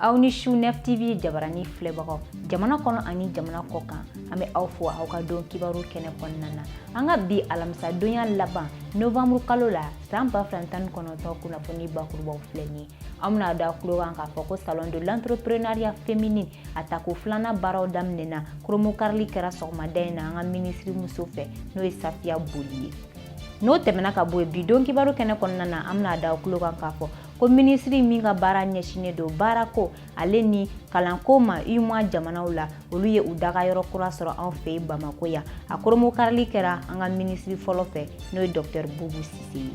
aw ni su nef tv jabarani filɛbagaw jamana kɔnɔ ani jamana kɔkan an bɛ aw fo aw ka don kibaru kɛnɛ kɔnɔna na an ka bi alamisadonya laban novamburu kalo la san ba fila ni tan ni kɔnɔntɔn kunnafoni bakurubaw filɛ nin ye an bɛna a da aw tulo kan k'a fɔ ko salon de l'entrepreneuriat féminin a tako filanan baaraw daminɛna koromo karili kɛra sɔgɔmada in na an ka minisiri muso fɛ n'o ye safiya boli ye n'o tɛmɛna ka bɔ yen bi don kibaru kɛnɛ kɔnɔna na an bɛna a da aw tulo kan k'a fɔ ko minisiri min ka baara ɲɛsinnen don baarako ale ni kalanko ma UMOA jamanaw la olu ye u dagayɔrɔ kura sɔrɔ anw fɛ yen Bamako yan a koromo karili kɛra an ka minisiri fɔlɔ fɛ n'o ye docteur Boubou Cissé ye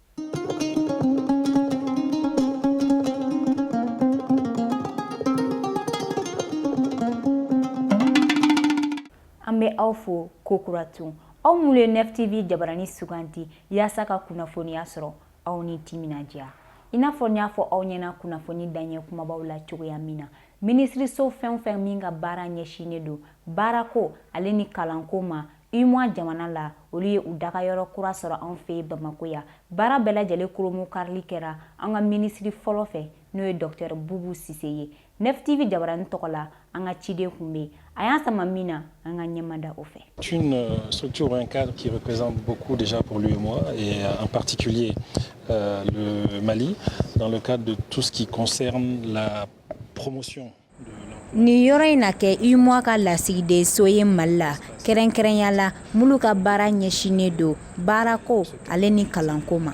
an bɛ aw fo kokura tun aw minnu ye nef tv jabarani suganti yaasa ka kunnafoniya sɔrɔ aw ni timinandiya i n'a fɔ n y'a fɔ aw ɲɛna kunnafoni daɲɛ kunbabaw la cogoya min na minisiriso fɛn o fɛn min ka baara ɲɛsinnen don baarako ale ni kalanko ma UMOA jamana la, olu ye u dagayɔrɔ kura sɔrɔ anw fɛ yen Bamako yan. Baara bɛɛ lajɛlen koromo karili kɛra an ka minisiri fɔlɔ fɛ, n'o ye Docteur Boubou Cissé ye. NEFTV jabaranin tɔgɔ la, an ka ciden tun bɛ yen. A y'an sama min na, an ka ɲɛmada o fɛ. C'est une euh, structure ou un cadre qui représente beaucoup déjà pour l'UMOA et euh, en particulier euh, le Mali dans le cadre de tout ce qui concerne la promotion Nin yɔrɔ in na kɛ UMOA ka lasigidenso ye mali la kɛrɛnkɛrɛnya la minnu ka baara ɲɛsinnen don baarako ale ni kalanko ma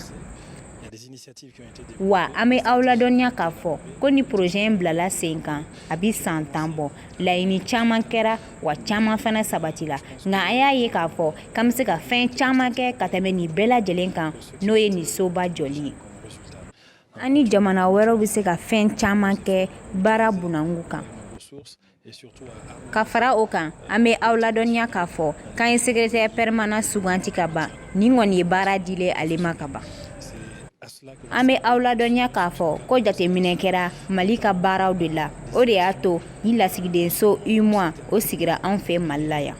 wa an bɛ aw ladɔnniya k'a fɔ ko nin poroze in bilala sen kan a bɛ san tan bɔ laɲini caman kɛra wa caman fana sabatila nka an y'a ye k'a fɔ k'an bɛ se ka fɛn caman kɛ ka tɛmɛ nin bɛɛ lajɛlen kan n'o ye nin soba jɔli ye an ni jamana wɛrɛw bɛ se ka fɛn caman kɛ baara bunangu kan ka fara o kan an bɛ aw ladɔnniya k'a fɔ k'an ye sekretɛrɛ pɛrɛmanan suganti ka ban nin kɔni ye baara dilen ale ma ka ban an bɛ aw ladɔnniya k'a fɔ ko jateminɛ kɛra mali ka baaraw de la o de y'a to nin lasigidenso UMOA o sigira anw fɛ mali la yan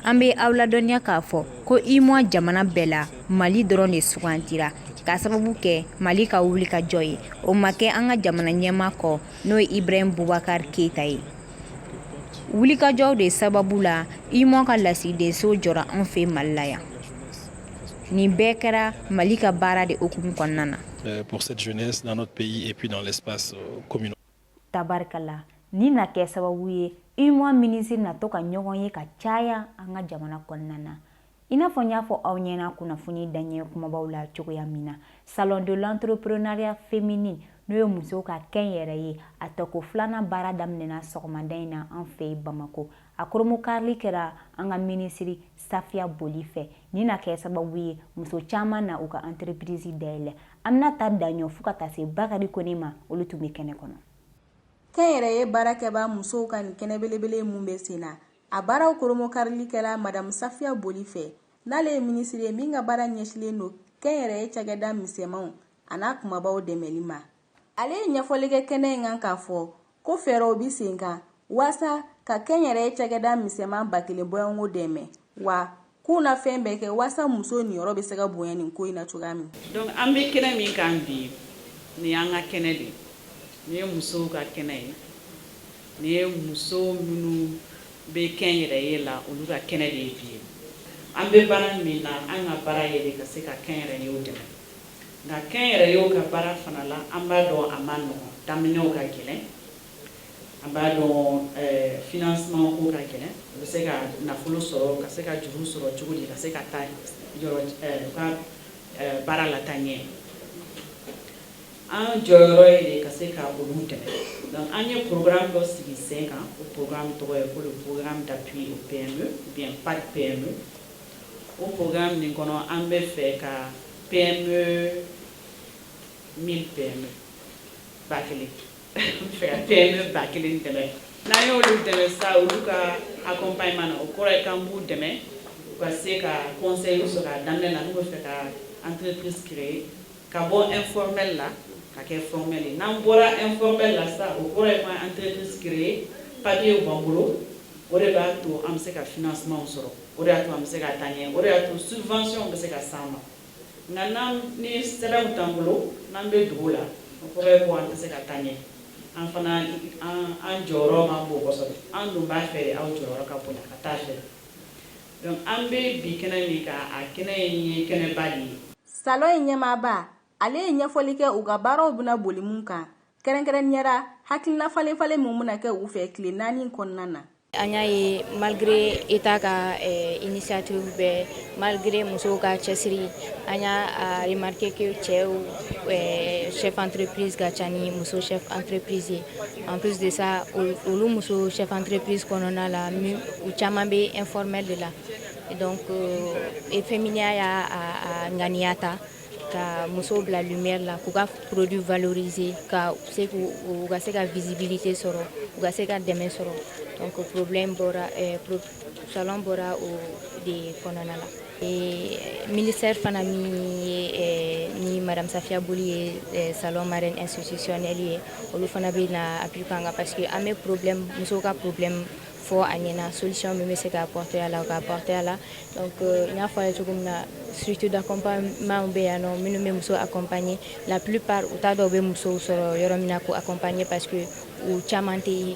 an bɛ aw ladɔnniya k'a fɔ ko UMOA jamana bɛɛ la mali dɔrɔn de sugantira k'a sababu kɛ mali ka wulikajɔ ye o ma kɛ an ka jamana ɲɛmaa kɔ n'o ye ibrahim bubakar keyita ye wulikajɔw de sababu la UMOA ka lasigidenso jɔra an fɛ mali la yan nin bɛɛ kɛra mali ka baara de hukumu kɔnɔna na euh, pour cette jeunesse dans notre pays et puis dans l'espace euh, communautaire tabarikala ni na kɛ sababu ye UEMOA minisiri na to ka ɲɔgɔn ye ka caya an ka jamana kɔnɔna na. I n'a fɔ n y'a fɔ aw ɲɛna kunnafoni daɲɛ kumabaw la cogoya min na, Salon de l'entrepreneuriat féminin n'o ye musow ka kɛnyɛrɛye, a tako filanan baara daminɛna sɔgɔmada in na an fɛ yen Bamako. A koromokarili kɛra an ka minisiri safiya boli fɛ ni na kɛ sababu ye muso caman na u ka entreprise dayɛlɛ aminata daɲɔ fo ka taa se bakari kone ma olu tun bɛ kɛnɛ kɔnɔ kɛnyɛrɛye baarakɛbaa musow ka nin kɛnɛ belebele mun bɛ sen na a baaraw koromokarili kɛla madamu safiya boli fɛ n'ale ye minisiri ye min ka baara ɲɛsilen don kɛnyɛrɛye cakɛda misɛmanw an'a kumabaw dɛmɛli ma ale ye ɲɛfɔli kɛ kɛnɛ in kan k'a fɔ ko fɛɛrɛw bɛ sen kan waasa ka kɛnyɛrɛye cakɛda misɛman ba kelen bɔɲɔnko dɛmɛ wa k'u na fɛn bɛɛ kɛ waasa muso niyɔrɔ bɛ se ka bonya nin ko in na cogoya min donc an bɛ kɛnɛ min kan bi nin y'an ka kɛnɛ de nin ye musow ka kɛnɛ ye nin ye muso minnu bɛ kɛnyɛrɛye la olu ka kɛnɛ de ye bi ye an bɛ baara min na an ka baara ye de ka se ka kɛnyɛrɛyew dɛmɛ Nka kɛnyɛrɛyew ka baara fana la, an b'a dɔn a man nɔgɔn, daminɛw ka gɛlɛn, an b'a dɔn financement ko ka gɛlɛn, u bɛ se ka nafolo sɔrɔ, u ka se ka juruw sɔrɔ cogo di ka se ka taa yɔrɔ, u ka baara lataa ɲɛ. An jɔyɔrɔ ye de ka se ka olu dɛmɛ. Donc an ye programme dɔ sigi sen kan, o programme tɔgɔ ye ko le programme d'appui aux PME ou bien PADPME. O programme nin kɔnɔ an bɛ fɛ ka PME 1000 PME ba kelen an bɛ fɛ ka PME ba kelen dɛmɛ n'an y'olu dɛmɛ sa olu ka accompagnement na o kɔrɔ ye k'an b'u dɛmɛ u ka se ka conseil sɔrɔ a daminɛ na n'u bɛ fɛ ka entreprise créer ka bɔ informel la ka kɛ formel ye n'an bɔra informel la sa o kɔrɔ ye k'an entreprise créer papier b'an bolo o de b'a to an bɛ se ka financement sɔrɔ o de y'a to an bɛ se ka taa ɲɛ o de y'a to subvention bɛ se ka s'an ma nka n'an ni sɛbɛnw t'an bolo n'an bɛ dogo la o kɔrɔ ye ko an tɛ se ka taa ɲɛ an fana an jɔyɔrɔ man bon kosɛbɛ an dun b'a fɛ aw jɔyɔrɔ ka bonya ka taa fɛ donc an bɛ bi kɛnɛ min kan a kɛnɛ ye kɛnɛba de ye salon in ɲɛmaaba ale ye ɲɛfɔli kɛ u ka baaraw bɛna boli mun kan kɛrɛnkɛrɛnnenya la hakilina falenfalen minnu bɛna kɛ u fɛ tile naani kɔnɔna na an y'a ye malgré état ka eh, initiative bɛɛ malgré musow ka cɛsiri an y'a ah, remarqué que cɛw eh, chef entreprise ka ca ni muso chef entreprise ye en plus de ça olu muso chef entreprise kɔnɔna la même u caman bɛ informel de la donc euh, Feminia y'a ŋaniya ta ka musow bila lumière la k'u ka produit valoriser ka se k'u u ka se ka visibilité sɔrɔ u ka se ka dɛmɛ sɔrɔ donc problème bɔra eh, pro, salon bɔra o de kɔnɔna la eh, ministère fana min ye eh, ni madame Safia Boly ye eh, salon marraine institutionnelle ye olu fana bɛ na appui k'an kan parce que an bɛ problème musow ka problème fɔ a ɲɛna solution min bɛ se ka apporter a la o ka apporter a la donc euh, n y'a fɔ a ye cogo min na structure d'accompagnement bɛ yan nɔ minnu bɛ muso accompagner la plupart u t'a dɔn u bɛ musow sɔrɔ yɔrɔ min na k'u accompagner parce que u caman tɛ ye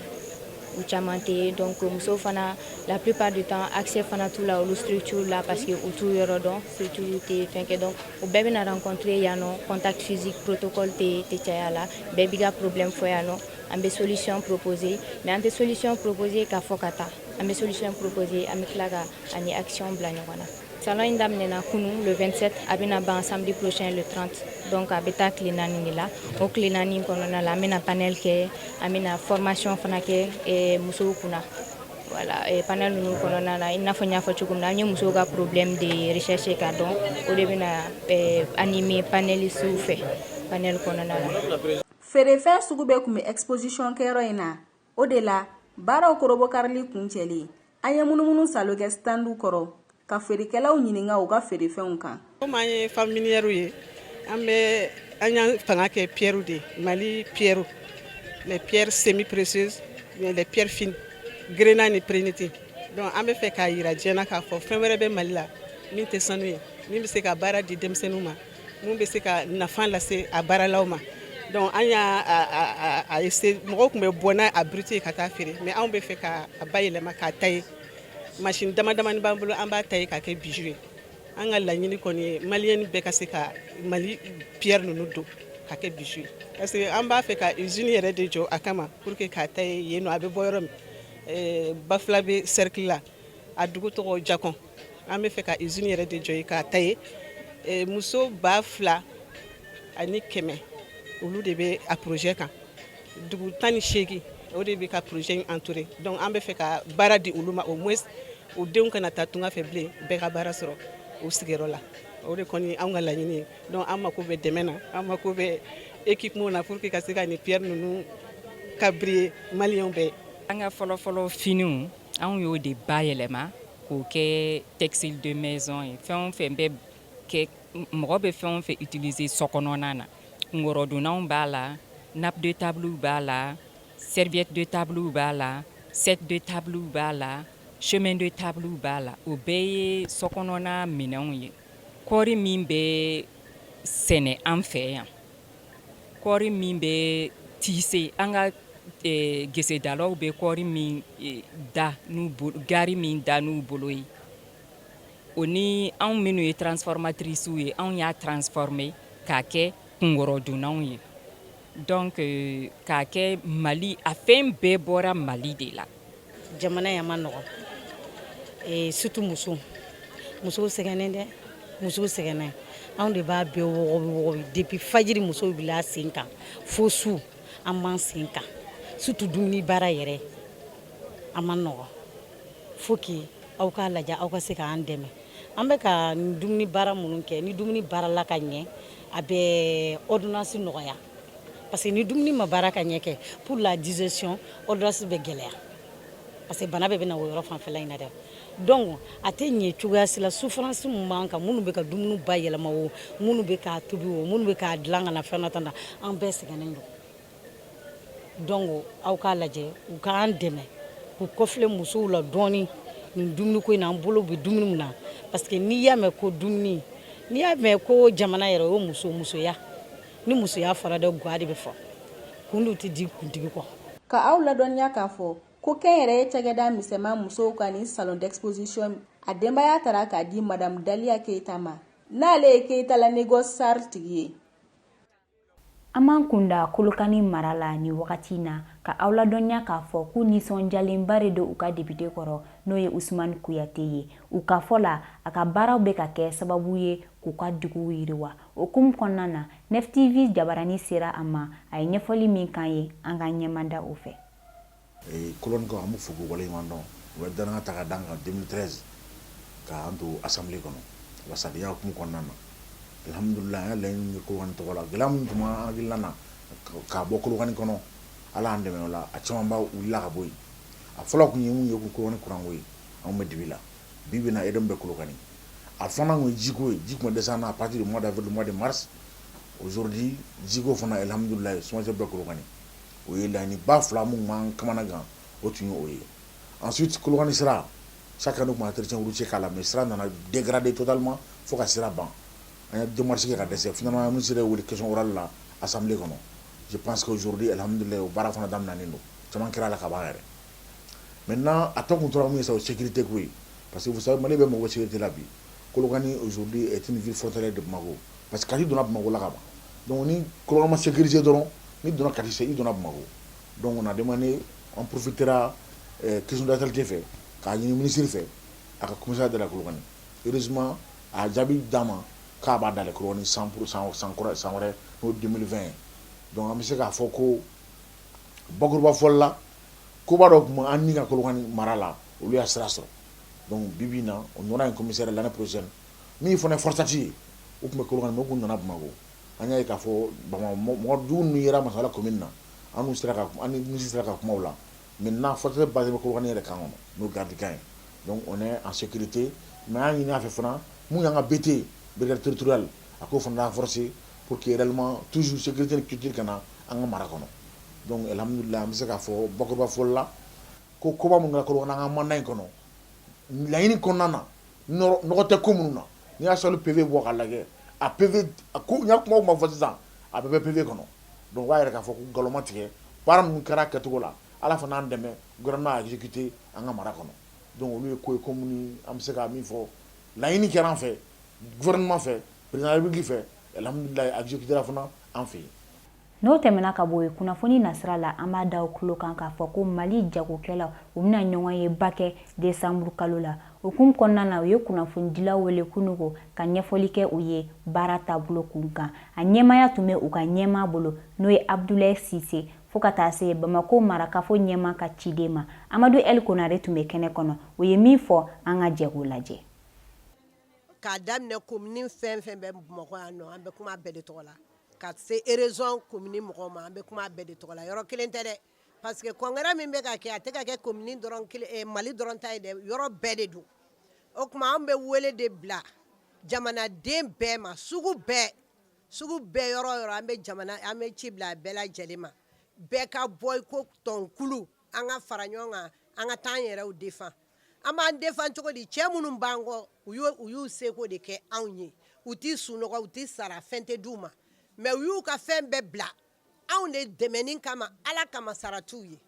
u caman tɛ ye donc musow fana la plupart du temps accès fana t'u la olu structure la parce que u t'u yɔrɔ dɔn structure tɛ fɛn kɛ donc u bɛɛ bɛna rencontrer yan nɔ contact physique protocole tɛ tɛ caya la bɛɛ b'i ka problème fɔ yan nɔ an bɛ solution proposer mais an tɛ solution proposer k'a fɔ ka taa an bɛ solution proposer an bɛ tila k'a ni action bila ɲɔgɔn na salon in daminɛna kunu le 27 a bɛna ban samedi prochain le 30 donc a bɛ taa tile naani de la o tile naani kɔnɔna la an bɛna panel kɛ an bɛna formation fana kɛ eh, musow kunna voilà eh, panel ninnu kɔnɔna na i n'a fɔ n y'a fɔ cogo min na an ye musow ka problème de rechercher k'a dɔn o de bɛna eh, animer panélistes fɛ panel kɔnɔna la Feerefɛn sugu bɛɛ tun bɛ exposition kɛyɔrɔ in na, o de la, baaraw korobokarili kuncɛlen, an ye munumunu salo kɛ standw kɔrɔ ka feerekɛlaw ɲininka u ka feerefɛnw kan. Comme an ye femmes minières ye, an bɛ an y'an fanga kɛ pierres de ye, Mali pierres, les pierres semi précieuses, les pierres fines, grenat ni préhnite. Donc an bɛ fɛ k'a yira diɲɛ na k'a fɔ fɛn wɛrɛ bɛ Mali la min tɛ sanu ye, min bɛ se ka baara di denmisɛnninw ma. Min bɛ se ka nafa lase a baaralaw ma donc an y'a mɔgɔ tun bɛ bɔ n'a brut ye ka taa feere mais anw bɛ fɛ k'a bayɛlɛma k'a tailler machine damadamani b'an bolo an b'a tailler k'a kɛ bijou ye an ka laɲini kɔni ye maliyɛnw bɛɛ ka se ka Mali pierre ninnu don k'a kɛ bijou ye parce que an b'a fɛ ka usine yɛrɛ de jɔ a kama pour que k'a tailler yen a bɛ bɔ yɔrɔ min Bafulabɛ cercle la a dugu tɔgɔ Jakɔn An bɛ fɛ ka usine yɛrɛ de jɔ yen k'a tailler eh, muso ba fila ani kɛmɛ olu de bɛ a projet kan dugu tan ni seegin o de bɛ ka projet in entourer donc an bɛ fɛ ka baara di olu ma au moins u denw kana taa tunga fɛ bilen bɛɛ ka baara sɔrɔ u sigiyɔrɔ la o de kɔni anw ka laɲini ye donc an mako bɛ dɛmɛ na an mako bɛ équipement na pour que ka se ka nin pierre ninnu ka briller maliyɛnw bɛɛ an ka fɔlɔfɔlɔ finiw anw y'o de bayɛlɛma k'o kɛ textile de maison ye fɛn o fɛn bɛ kɛ mɔgɔ bɛ fɛn o fɛn utiliser so kɔnɔna na kunkɔrɔdonnanw b'a la nappe de table b'a la serviette de table b'a la set de table b'a la chemin de table b'a la o bɛɛ ye so kɔnɔna minɛnw ye kɔɔri min bɛ sɛnɛ an fɛ yan kɔɔri min bɛ tisser an ka gesedalaw bɛ kɔɔri min da gari min da n'u bolo ye o ni anw minnu ye transformatricew ye anw y'a transformer k'a kɛ kunkɔrɔdonnanw ye donc k'a kɛ mali a fɛn bɛɛ bɔra mali de la jamana ya man nɔgɔ eh, surtout muso musow sɛgɛnnen dɛ musow sɛgɛnnen anw de b'a bɛɛ wɔgɔbɛ wɔgɔbɛ depuis fajiri musow bila sen kan fo su an b'an sen kan surtout dumuni baara yɛrɛ a man nɔgɔ faut que aw k'a lajɛ aw ka se k'an dɛmɛ an bɛ ka dumuni baara minnu kɛ ni dumuni baarala ka ɲɛ a bɛ ordonnance nɔgɔya parce que ni dumuni ma baara ka ɲɛ kɛ pour la digestion ordonnance bɛ gɛlɛya parce que bana bɛɛ bɛ na o yɔrɔ fanfɛla in na dɛ donc a tɛ ɲɛ cogoya si la souffrance min b'an kan minnu bɛ ka dumuni bayɛlɛma o minnu bɛ k'a tobi o minnu bɛ k'a dilan ka na fɛn na tan na an bɛɛ sɛgɛnnen don donc aw k'a lajɛ u k'an dɛmɛ k'u kɔfilɛ musow la dɔɔni nin dumuni ko in na an bolo bɛ dumuni min na parce que n'i y'a mɛn ko dumuni n'i y'a mɛn ko jamana yɛrɛ o ye muso musoya ni musoya fɔra dɛ ga de bɛ fɔ kun tɛ di kuntigi kɔ ka aw ladɔnniya k'a fɔ ko kɛnyɛrɛye cakɛda misɛnman musow ka nin salon d'exposition a denbaya tara k'a di madamu daliya keyita ma n'ale ye keyitala négoce SARL tigi ye an b'an kunda kolokani mara la nin wagati na ka aw ladɔnniya k'a fɔ k'u nisɔndiyalenba de don u ka depite kɔrɔ n'o ye usumani kuyate ye u ka fɔ la a ka baaraw bɛ ka kɛ sababu ye k'u ka duguw yiriwa O hukumu kɔnɔna na, NFTV jabarani sera a ma, a ye ɲɛfɔli min k'an ye, an k'an ɲɛmada o fɛ. Ee Kolokanikaw, an b'u fo k'u waleɲumandɔn. U bɛ danaya ta ka da an kan 2013 ka an don Asanbile kɔnɔ wasadenya hukumu kɔnɔna na. Alihamidulila, an ka laɲini ye Kolokani tɔgɔ la. Gɛlɛya minnu tun b'an hakilina na k'a bɔ Kolokani kɔnɔ, Ala y'an dɛmɛ o la, a camanba wulila ka bɔ yen. A fɔlɔ tun ye mun ye, o tun ye Kolokani kuranko ye, an tun bɛ dibi la. Bi bɛna e bɛ kolokan a fana tun jiko ji tun de n'a paki ma da ma de mari ozodi jiko fana yehamdula ye sonjɔ bɛ kolokan o ye la ni ba fila min man kamana kan o tun ye o ye an su tɛ kolokani sira sa ka tun a terire cɛ cɛ k'a la mɛ sira nana dɛgra de todali ma fo ka sira ban an ye donmasi ka dɛsɛ fma min sera wele kɛsɔnɔrɔ la a sami kɔnɔ si panse sodihamidula o baara fana daminɛen don caman kɛra la ka' yɛrɛ mɛ n' a tɔ tun tora min sa o sete koyi yen pa que fusa mali bɛ mɔgɔ sɛbɛnte la bi kolokani fɔtɛ de ma pa que kadi donna bamakɔla ka ban koma se grise dɔrɔn ni donna ka se i donna bamakɔ de ma ne an porofi kɛra kidte fɛ k'a ɲini minisiriri fɛ a ka kumisa da kulubali z a jaabi d'a ma k'a b'a da kɔrɔ san san san wɛrɛ n'o denmisɛnninmi fɛn ye dɔnku bɛ se k'a fɔ ko bakurubafɔlila koba dɔ tun an ni ka kolokani mara la olu y'a sira sɔrɔ bi na o nana in kɔmimi sera la psi min fana fɔrasati ye u tun bɛ kolokani tun nana bamakɔ an y'a k'a fɔ mɔgɔ dun min yɛrɛ masala ko min na an sera misi sera ka kuma la mɛ n'a fɔ tɛ ba kokani yɛrɛ kan kɔnɔ n'o garidi ye o an sete mɛ y'a ɲini a fɛ fana min y'an ka bite bere tiriurli a ko fana' fɔse po que yɛrɛlima tusu sete kiti kana na an ka mara kɔnɔ Donc alhamdulila an bɛ se k'a fɔ bakuruba fɔli la, ko koba minnu kɛra Kolokani an ka mandat in kɔnɔ, laɲini kɔnɔna na nɔgɔ tɛ ko minnu na, n'i y'a sɔrɔ hali PV bɔ k'a lajɛ, a PV a ko n ye kuma o kuma fɔ sisan, a bɛɛ bɛ PV kɔnɔ donc o b'a jira k'a fɔ ko nkalon ma tigɛ baara minnu kɛra a kɛcogo la, Ala fana y'an dɛmɛ gouvernement y'a exécuté an ka mara kɔnɔ donc olu ye ko ye ko minnu an bɛ se ka min fɔ laɲini kɛra an fɛ gouvernement fɛ président de la République fɛ alhamdulila a exécutéra fana an fɛ yen N'o tɛmɛna ka bɔ yen kunnafoni nasira la an b'a d'aw tulo kan k'a fɔ ko mali jagokɛlaw u bɛna ɲɔgɔn ye ba kɛ desanburu kalo la o hukumu kɔnɔna na u ye kunnafonidilaw wele kunun ko ka ɲɛfɔli kɛ u ye baara taabolo kun kan a ɲɛmaya tun bɛ u ka ɲɛmaa bolo n'o ye abudulayi sise fo ka taa se bamakɔ marakafo ɲɛmaa ka ciden ma amadu ɛli konare tun bɛ kɛnɛ kɔnɔ u ye min fɔ an ka jɛ k'o lajɛ k'a daminɛ komini fɛn fɛn bɛ bamakɔ yan nɔ an bɛ kuma bɛɛ de tɔgɔ la ka se erezɔn komini mɔgɔw ma an bɛ kuma bɛɛ de tɔgɔ la yɔrɔ kelen tɛ dɛ parce que kɔngɛrɛ min bɛ ka kɛ a tɛ ka kɛ komini dɔrɔn mali dɔrɔn ta ye dɛ yɔrɔ bɛɛ de don o tuma an bɛ wele de bila jamanaden bɛɛ ma sugu bɛɛ sugu bɛɛ yɔrɔ yɔrɔ an bɛ ci bila a bɛɛ lajɛlen ma bɛɛ ka bɔ i ko tɔnkulu an ka fara ɲɔgɔn kan an ka taa an yɛrɛw defan An b'an defan cogo di cɛ minnu b'an kɔ u y'u seko de kɛ anw ye u tɛ sunɔgɔ u tɛ sara fɛn tɛ di u ma mɛ u y'u ka fɛn bɛɛ bila anw de dɛmɛni kama ala kama sara t'u ye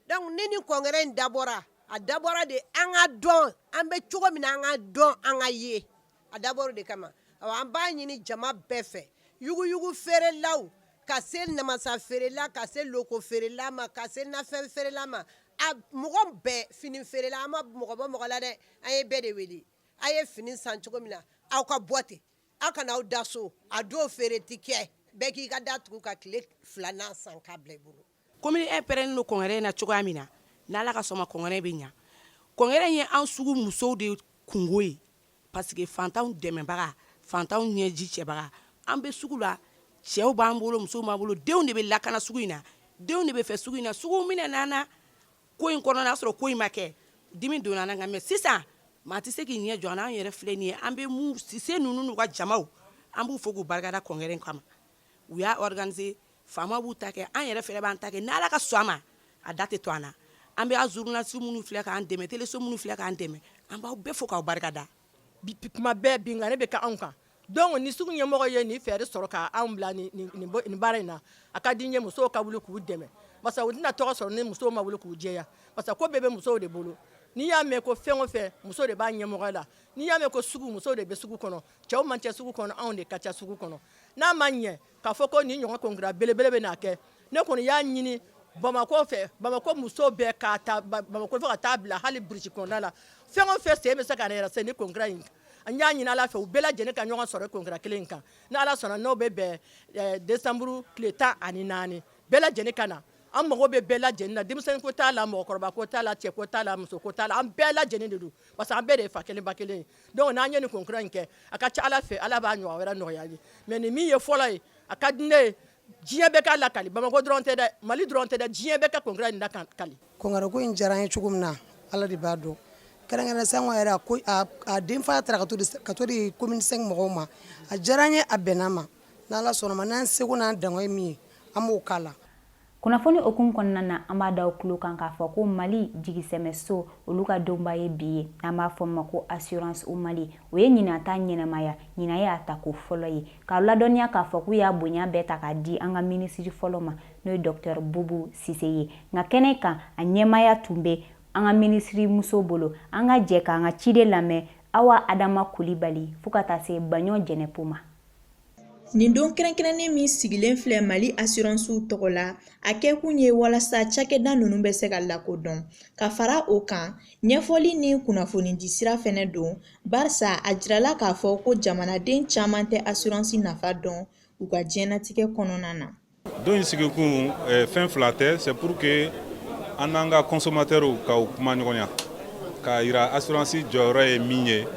dɔnku ni nin kɔngɛrɛ in dabɔra a dabɔra de an ka dɔn an bɛ cogo min na an ka dɔn an ka ye a dabɔra o de kama an b'a ɲini jama bɛɛ fɛ yuguyugu feerelaw ka se namasa feerela ka se loko feerela ma ka se nafɛn feerela ma a mɔgɔ bɛɛ fini feerela an ma mɔgɔ bɔ mɔgɔ la dɛ an ye bɛɛ de wele a ye fini san cogo min na aw ka bɔ ten aw kana aw da so a don feere tɛ kɛ bɛɛ k'i ka da tugu ka tile fila na san ka bila i bolo Commune e pɛrɛnnen don congrès in na cogoya min na n'ala ka sɔn a ma congrès bɛ ɲɛ congrès ye an sugu musow de kunko ye parce que fantanw dɛmɛbaga fantanw ɲɛji cɛbaga an bɛ sugu la cɛw b'an bolo muso b'an bolo denw de bɛ lakana sugu in na denw de bɛ fɛ sugu in na sugu minɛna ko in kɔnɔ y'a sɔrɔ ko in ma kɛ dimi donna an na nka mɛ sisan maa tɛ se k'i ɲɛ jɔ an yɛrɛ filɛ nin ye an bɛ sise ninnu n'u ka jama an b'u fo k'u barika da congrès kama u y'a Faama b'u ta kɛ an yɛrɛ fɛnɛ b'an ta kɛ n' ala ka sɔn a ma a da tɛ to an na an bɛ an journaliste minnu filɛ k' an dɛmɛ teleso minnu filɛ k' an dɛmɛ an b'aw bɛɛ fo k'aw barika da bi kuma bɛɛ binkanni bɛ kɛ anw kan dɔnku ni sugu ɲɛmɔgɔ ye nin fɛɛrɛ sɔrɔ k' anw bila nin baara in na a ka di n ye musow ka wuli k'u dɛmɛ parce que u tɛna tɔgɔ sɔrɔ ni musow ma wuli k'u jɛya parce que ko bɛɛ bɛ musow de bolo n'i y'a mɛn ko fɛn o fɛn muso de b'a ɲɛmɔgɔ la n'i y'a mɛn ko sugu musow de bɛ sugu kɔnɔ cɛw man ca sugu kɔnɔ anw de ka ca sugu kɔnɔ n'a ma ɲɛ K'a fɔ ko nin ɲɔgɔn congrès belebele bɛna kɛ ne kɔni y'a ɲini bamakɔ fɛ bamakɔ muso bɛɛ k'a ta bamakɔ ka taa bila hali burusi kɔnɔna la fɛn o fɛn sen bɛ se k'a yɛrɛ se nin congrès in an y'a ɲini ala fɛ u bɛɛ lajɛlen ka ɲɔgɔn sɔrɔ congrès kelen in kan ni ala sɔnna n'o bɛ bɛn desanburu tile tan ani naani bɛɛ lajɛlen ka na an mago bɛ bɛɛ lajɛlen na denmisɛnnin ko t'a la mɔgɔkɔrɔba ko t'a la cɛ ko t'a la muso ko t'a la an bɛɛ lajɛlen de don parce que an bɛɛ de ye fa kelen ba kelen ye dɔnku n'an ye nin congrès in kɛ a ka ca ala fɛ ala b'a ɲɔgɔn wɛrɛ nɔgɔya an ye mɛ nin min ye fɔlɔ ye a ka di ne ye diɲɛ bɛɛ k'a lakali bamakɔ dɔrɔn tɛ dɛ mali dɔrɔn tɛ dɛ diɲɛ bɛɛ ka congrès in lakali congrès ko in diyara an ye cogo min na ala de b'a dɔn kɛrɛnkɛrɛn san yɛrɛ ko a denfaya taara k'a to di commune cinq mɔgɔw ma a diyara n ye a bɛnna an ma n'ala sɔnna a ma n'an seko n'an dɔnko ye min ye an b'o k'a la kunnafoni hukumu kɔnɔna na an b'a da aw tulo kan k'a fɔ ko mali jigisɛmɛso olu ka donba ye bi ye n'an b'a fɔ ma ko assurance au mali o ye ɲinan ta ɲɛnamaya ɲinan ye a tako fɔlɔ ye k'a ladɔnniya k'a fɔ k'u y'a bonya bɛɛ ta k'a di an ka minisiri fɔlɔ ma n'o ye dɔktɛr bubu sise ye nka kɛnɛ kan a ɲɛmaya tun bɛ an ka minisiri muso bolo an ka jɛ k'an ka ciden lamɛn awa adama kulibali fo ka taa se baɲɔ jɛnɛpo ma Nin don kɛrɛnkɛrɛnnen min sigilen filɛ Mali asiransiw tɔgɔ la, a kɛkun ye walasa cakɛda ninnu bɛ se ka lakodɔn. Ka fara o kan, ɲɛfɔli ni kunnafonidi sira fɛnɛ don, barisa a jirala k'a fɔ ko jamanaden caman tɛ asiransi nafa dɔn u ka diɲɛnatigɛ kɔnɔna na. don in sigikun eh, fɛn fila tɛ c'est pour que an n'an ka consommateurs ka kumaɲɔgɔnya k'a yira assurance jɔyɔrɔ ye min ye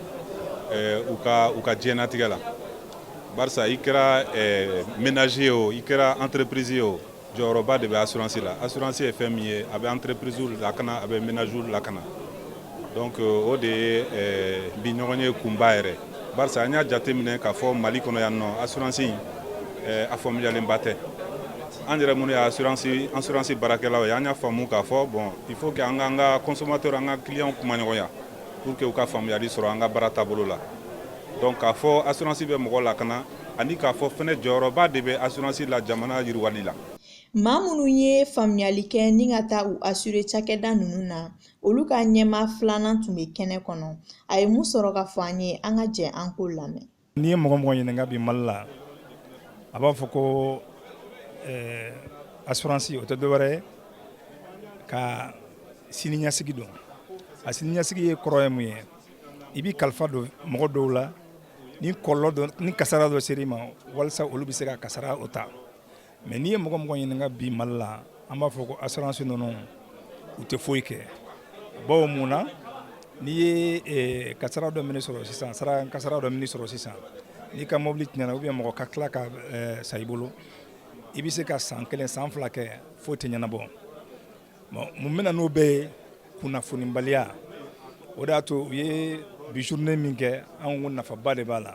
eh, u ka u ka diɲɛnatigɛ la barisa i kɛra eh, ménage ye o i kɛra entreprise ye o jɔyɔrɔba de bɛ assurance la assurance ye fɛn min ye a bɛ entreprise lakana a bɛ ménage lakana Donc euh, o de ye euh, bi ɲɔgɔnye kunba yɛrɛ barisa an y'a jateminɛ k'a fɔ mali kɔnɔ yan nɔ assurance in euh, a faamuyalenba tɛ an yɛrɛ minnu ye assurance assurance baarakɛlaw ye an y'a faamu k'a fɔ bon il faut que an k'an ka consommateur an ka client kumaɲɔgɔnya pour que u ka faamuyali sɔrɔ an ka baara taabolo la donc k'a fɔ assurance bɛ mɔgɔ lakana ani k'a fɔ fɛnɛ jɔyɔrɔba de bɛ assurance la jamana yiriwali la maa minnu ye faamuyali kɛ ni ka taa u assurer cakɛda ninnu na olu ka ɲɛmaa filanan tun bɛ kɛnɛ kɔnɔ a ye mun sɔrɔ ka fɔ an ye an ka jɛ an k'o lamɛn n'i ye mɔgɔ o mɔgɔ ɲininka bi mali la a b'a fɔ ko eh, assurance o tɛ dɔwɛrɛ ye ka siniɲɛsigi don a siniɲɛsigi ye kɔrɔ ye mun ye i b'i kalifa don mɔgɔ dɔw la ni kɔlɔlɔ dɔ ni kasara dɔ ser'i ma walisa olu bɛ se ka kasara o ta Mais n'i ye mɔgɔ o mɔgɔ ɲininka bi mali la an b'a fɔ ko assurance ninnu u tɛ foyi kɛ bawo mun na n'i ye kasara dɔ min sɔrɔ sisan kasara dɔ min sɔrɔ sisan n'i ka mɔbili tiɲɛna ou bien mɔgɔ ka tila ka sa i bolo i bɛ se ka san kelen san fila kɛ foyi tɛ ɲɛnabɔ mun bɛ na n'o bɛɛ ye kunnafonibaliya o de y'a to u ye bi journée min kɛ an ko nafaba de b'a la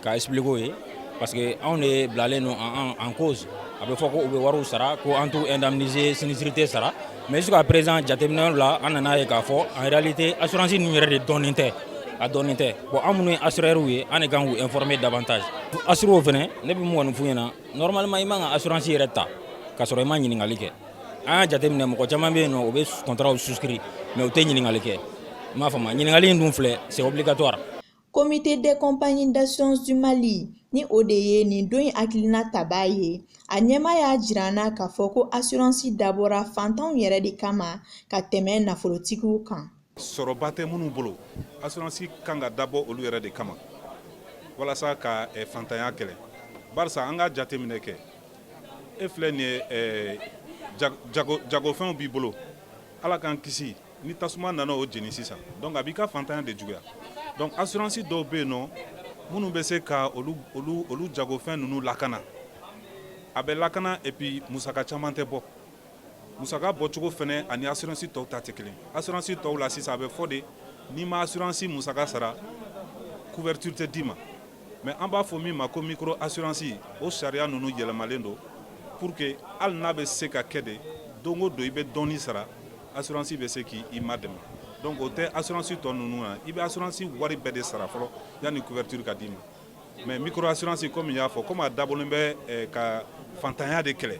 K'a expliquer u ye parce que anw de bilalen don en cause a bɛ fɔ ko u bɛ wariw sara ko an t'u indemniser sinistre tɛ sara mais jusqu'à présent jateminɛw la an nan'a ye k'a fɔ en réalité assurance ninnu yɛrɛ de dɔnnen tɛ a dɔnnen tɛ bon an minnu ye assureur ye an de kan k'u informer davantage assuréw fɛnɛ ne bɛ mun kɔni f'u ɲɛna normalement i man ka assurance yɛrɛ ta k'a sɔrɔ i ma ɲininkali kɛ an y'a jateminɛ mɔgɔ caman bɛ yen nɔ u bɛ contrat souscrit mais u tɛ ɲininkali kɛ i m'a faamu ɲininkali in dun filɛ c'est obligatoire Comité des compagnies d'assurance du mali ni o de ye nin don in hakilina tabaa ye a ɲɛmaa y'a jira an na k'a fɔ ko assurance dabɔra fantanw yɛrɛ de kama ka tɛmɛ nafolotigiw kan sɔrɔba tɛ minnu bolo assurance kan ka dabɔ olu yɛrɛ de kama walasa ka eh, fantanya kɛlɛ barisa an ka jateminɛ kɛ e filɛ nin ye eh, jag- jago- jagofɛnw b'i bolo ala k'an kisi Ni tasuma nana o jeni sisan donc a b'i ka fantanya de juguya donc assurance dɔw bɛ yen nɔ minnu bɛ se ka olu jagofɛn ninnu lakana a bɛ lakana et puis musaka caman tɛ bɔ musaka bɔcogo fɛnɛ ani assurance tɔw ta tɛ kelen assurance tɔw la sisan a bɛ fɔ de n'i ma assurance musaka sara couverture tɛ d'i ma mais an b'a fɔ min ma ko micro assurance o sariya ninnu yɛlɛmalen don pour que hali n'a bɛ se ka kɛ de don o don i bɛ dɔɔnin sara assurances bɛ se k'i madɛmɛ donc o tɛ assurances tɔ ninnu na i bɛ assurance wari bɛɛ de sara fɔlɔ yani couverture ka d'i ma mais micro assurances comme n y'a fɔ comme a dabɔlen bɛ eh, ka fantanya de kɛlɛ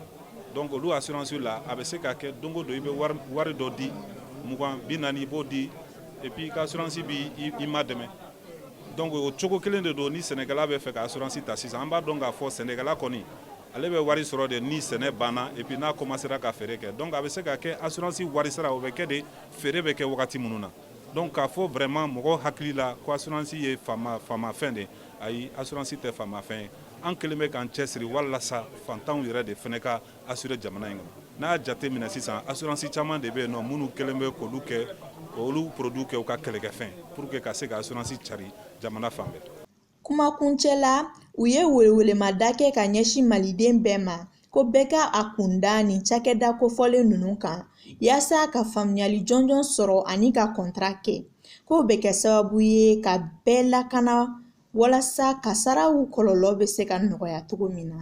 donc olu assurances la a bɛ se ka kɛ don o don i bɛ wari dɔ di mugan bi naani i b'o di et puis i ka assurance b'i madɛmɛ donc o cogo kelen de don ni sɛnɛkɛla bɛ fɛ ka assurance ta sisan an b'a dɔn k'a fɔ sɛnɛkɛla kɔni ale bɛ wari sɔrɔ de ni sɛnɛ banna et puis n'a commencera ka feere kɛ donc a bɛ se ka kɛ assurance wari sara o bɛ kɛ de feere bɛ kɛ wagati minnu na donc k'a fɔ vraiment mɔgɔ hakili la ko assurance ye faamafɛn de ayi assurance tɛ faamafɛn ye an kelen bɛ k'an cɛsiri walasa fantanw yɛrɛ de fɛnɛ ka assurer jamana in kɔnɔ n'a y'a jate minɛ sisan assurance caman de bɛ yen nɔ minnu kelen bɛ k'olu kɛ olu produit kɛ u ka kɛlɛkɛfɛn pour que ka se ka assurance cari jamana fan bɛɛ kumakuncɛ la u ye welewelemada kɛ ka ɲɛsin maliden bɛɛ ma ko bɛɛ ka a kunda nin cakɛda kofɔlen ninnu kan yaasa ka faamuyali jɔnjɔn sɔrɔ ani ka contrat kɛ k'o bɛ kɛ sababu ye ka bɛɛ lakana walasa kasaraw kɔlɔlɔ bɛ se ka nɔgɔya cogo min na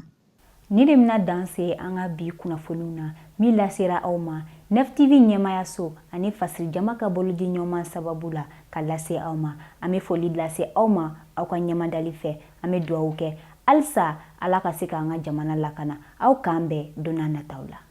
Nin de bɛna dan se an ka bi kunnafoniw na min lasera aw ma neuf TV ɲɛmayaso ani fasirijama ka bolodiɲɔgɔnma sababu la ka lase aw ma an bɛ foli lase aw ma aw ka ɲɛmadali fɛ an bɛ dugawu kɛ halisa ala ka se k'an ka jamana lakana aw k'an bɛn don nataw la